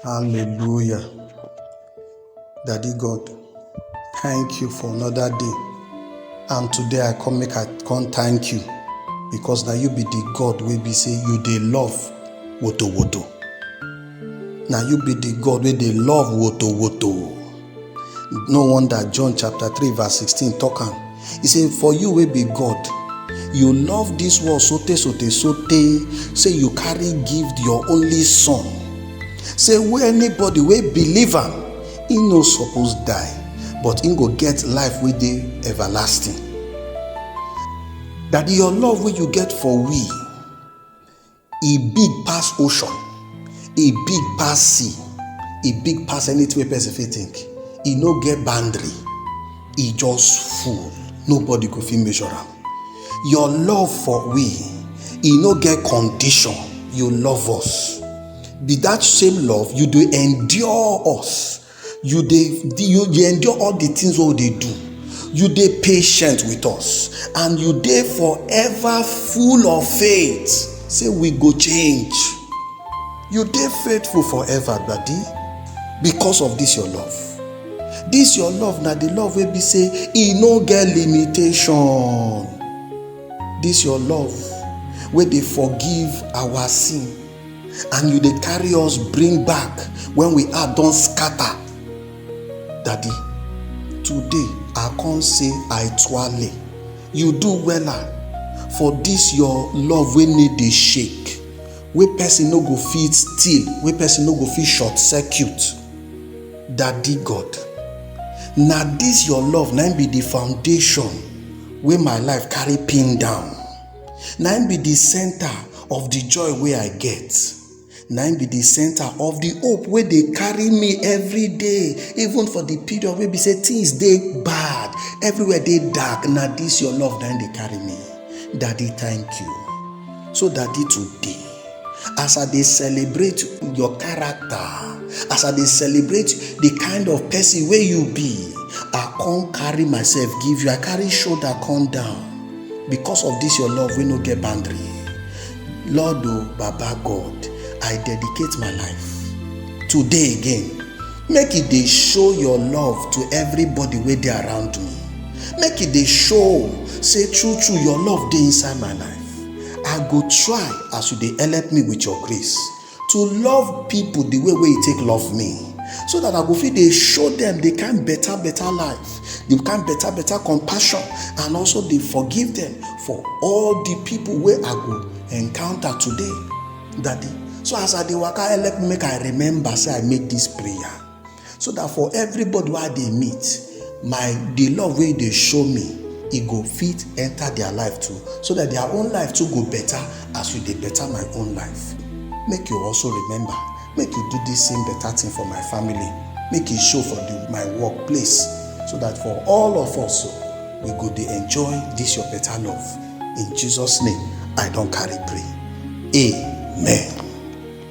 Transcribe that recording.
Hallelujah. Daddy God, thank you for another day. And today I come make I come thank you because now you be the God wey be say you dey love woto woto. Now you be the God wey dey love woto woto. No wonder John chapter 3 verse 16 talk am. He say, For you wey be God, you love this world so tey so tey so tey say you carry give your only son. Say wey anybody wey believe am, he no suppose die, but he go get life wey dey everlasting. Daddy, your love wey you get for we, e big pass ocean e big pass sea e big pass anything wey person fit think e no get boundary e just full nobody go fit measure am your love for we e no get condition you love us be that same love you dey endure us you dey you dey endure all the things wey we dey do you dey patient with us and you dey forever full of faith say we go change you dey faithful forever daddy because of this your love this your love na the love wey be say e no get limitation this your love wey dey forgive our sin and you dey carry us bring back when we are don scatter daddy today i come say i twale you do wella for this your love wey need dey shake wey person no go fit steal wey person no go fit short circuit daddy god na this your love na be the foundation wey my life carry pin down Na im be the center of the joy wey I get. Na im be the center of the hope wey dey carry me every day, even for the period wey be say things dey bad, everywhere dey dark. Na this your love na im dey carry me. Daddy, thank you. So, Daddy, today. As I dey celebrate your character, as I dey celebrate the kind of person wey you be, I come carry myself give you, I carry shoulder come down because of this your love wey no get boundary. Lord o, oh, Baba God, I dedicate my life today again. Make e dey show your love to everybody wey dey around me. Make e dey show say true true your love dey inside my life. I go try as you dey help me with your grace to love people the way wey you take love me so that I go fit dey show them the kind better better life, the kind better better compassion and also dey forgive them for all the people wey I go encounter today. Daddy, so as I dey waka help me make I remember say I make this prayer. so that for everybody wey i dey meet my the love wey you dey show me e go fit enter their life too so that their own life too go better as you dey better my own life make you also remember make you do this same better thing for my family make e show for the, my work place so that for all of us so we go dey enjoy this your better love in jesus name i don carry pray amen.